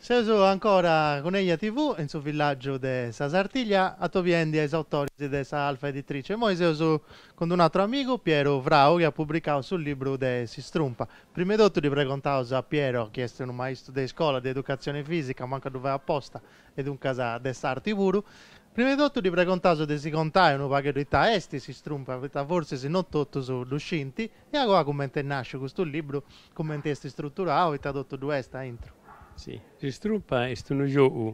Seus ancora cun Eja TV in su villàgiu de sa Sartiglia, atobiende a is autoris de sa Alfa Editrice. Imoi seus cun d-unu atru amigu, Piero Frau, chi at publicau su libru de s'istrumpa. Prima e totu ddi pregontaus a Piero, chi est unu maistu de iscola de educatzione fìsica, mancu a ddu fai aposta, e duncas de s'arti puru, prima de totu ddi pregontaus de si contai unu pagheddu ita est s'istrumpa, poita forsis no totus ddu scint, e a goa cumenti est nàsciu custu libru, cumenti est istruturau e ita totu ddu est aintru. Si, s'istrumpa est unu giogu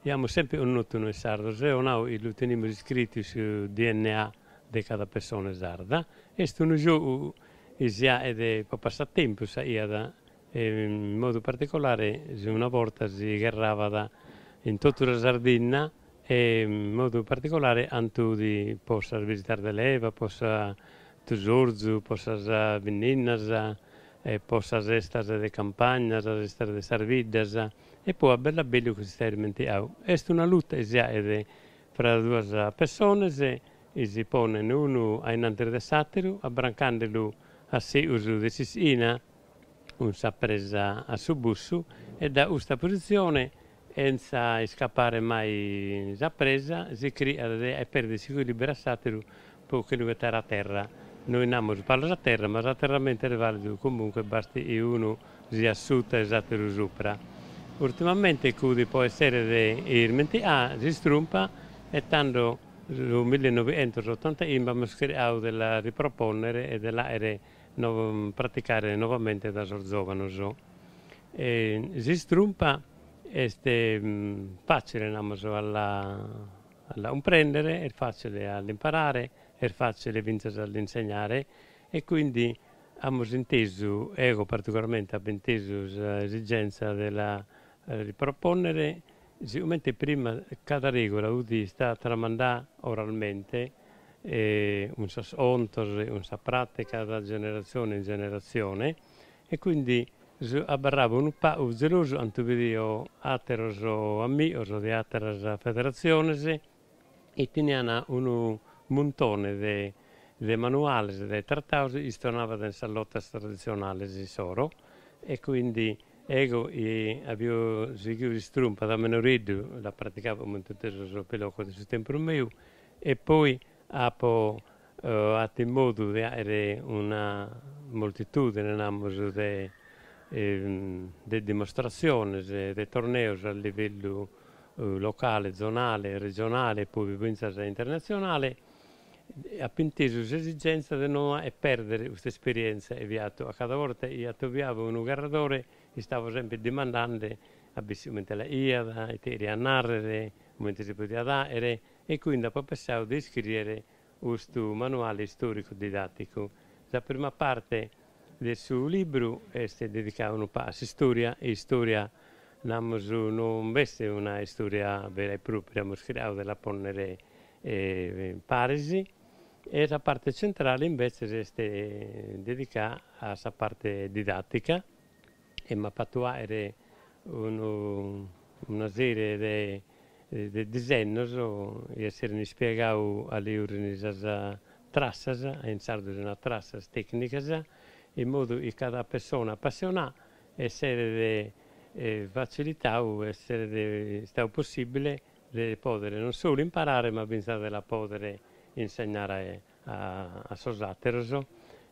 chi amus sempre connottu noi sardos, eo nau chi lu tenimus iscritu in su DNA de cada persona sarda, est unu giogu chi si aet po passatempus, si aiat e in modu particolare una borta si gherrabat in totu sa Sardinna e in modu particolare cando udi po sas bisitas de leva, po su tusorzu, po sas binninnas e po sas festas de campagna, sas festas de sas biddas e poi a bellu a bellu ch'est istau irmentiau. Est una luta chi si aet fra duas pessones chi si ponen unu ainnantis de s'ateru abbrancandelu a seus de s'ischina cun sa presa a su bussu e dae custa positzione chentza iscapare mai sa presa, si criat de aer perder s'ecuilibru a s'ateru po che lu ghetare a terra, noi namus palas a terra ma s'aterramento est validu comunque basti chi unu siat suta e s'ateru supra. Urtimamente udi po essere irmentià s'istrumpa e tando su millenovientosotantachimbe amus criau de la riproponnere e de la aere praticare novamente dae sos zòvanos. S'istrumpa est fàtzile, namus, a la a la cumprèndere, est fàtzile a l'imparare, est fàtzile fintzas a l'insegnare e quindi amus intesu, ego particolarmente apo intesu sa esigenza de la ripropònnere Sigomente prima cada regola udi istada tramandada oralmente cun sos contos e cun sa pràttica da generatzione in generatzione e quindi abarrabo unu pagu zelosu cando bidio àteros amigos de àteras federatziones chi teniant unu muntone de de manuales de tratados chistionabant in sas lotas traditzionales issoro e quindi ego apio sighiu s'istrumpa da menoreddu la praticabo comente totu sos pilocos de su tempus meu e poi apo atu in modu de aere una moltitudine namus de de dimostratziones de torneos a livellu locale, zonale, regionale e poi fintzas internatzionale, apo intesu s'esigèntzia de no fàghere pèrdere custa esperièntzia e fiat, a cada borta chi atobiavo unu gherradore, istavo sempre dimandende a issu comente la faghiat, ite cheriat nàrrere, comente si podiat fàghere e cuindi apo pessau de iscrìere Custu manuale istòricu didàticu. Sa prima parte de su libru est dedicada unu pagu a s'istòria, istòria namus non b'est una istòria vera e pròpria, amus chircadu de la pònnere paris, e sa parte centrale imbetzes est dedicada a sa parte didàtica e m'apo fatu fàghere unu una sèrie de de disennos, chi esserent ispiegadu a liurriri sas trassas, in sardu si narat trassas, tècnicas, in modu chi cada persona apassionada esseret fatzilitadu, esseret istadu possìbile de pòdere non solu imparare ma fintzas de la pòdere insegnare a sos àteros,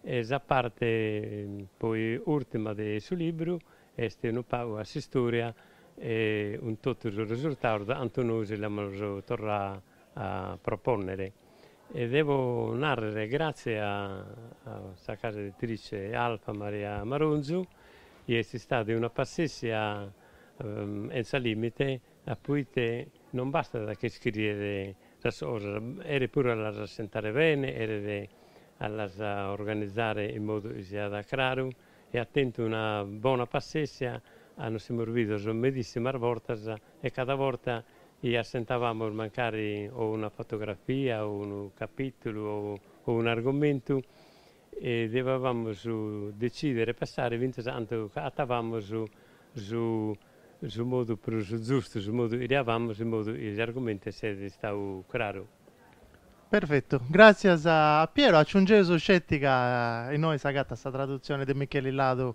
e sa parte poi ùrtima de su libru est unu pagu a s'istòria e cun totu sos resurtados de cantu nois l'amus torradu a propònnere. E devo nàrrere gràtzias a sa casa editrice Alfa Maria Maronzu chi est istada de una passèssia 'enza lìmite A poite non bastat a che scriere sas cosas, cheret puru a las assentare bene, cheret a las organizare in modu chi siat craru e at tentu una bona passèssia ca nos semus bidos medissimas bortas e cada borta chi assentavamus mancari o una fotografia o unu capitulu o un'argomentu E devavamos decidere e passare fintzas a cantu agatavamos su su modu prus zustu, su modu chi cheriavamos in modu chi s'argumentu esset istau craru. Perfetu. Gràtzias a Piero. Aciungeus sceti ca innoi s'agatat sa tradutzioni de Micheli Ladu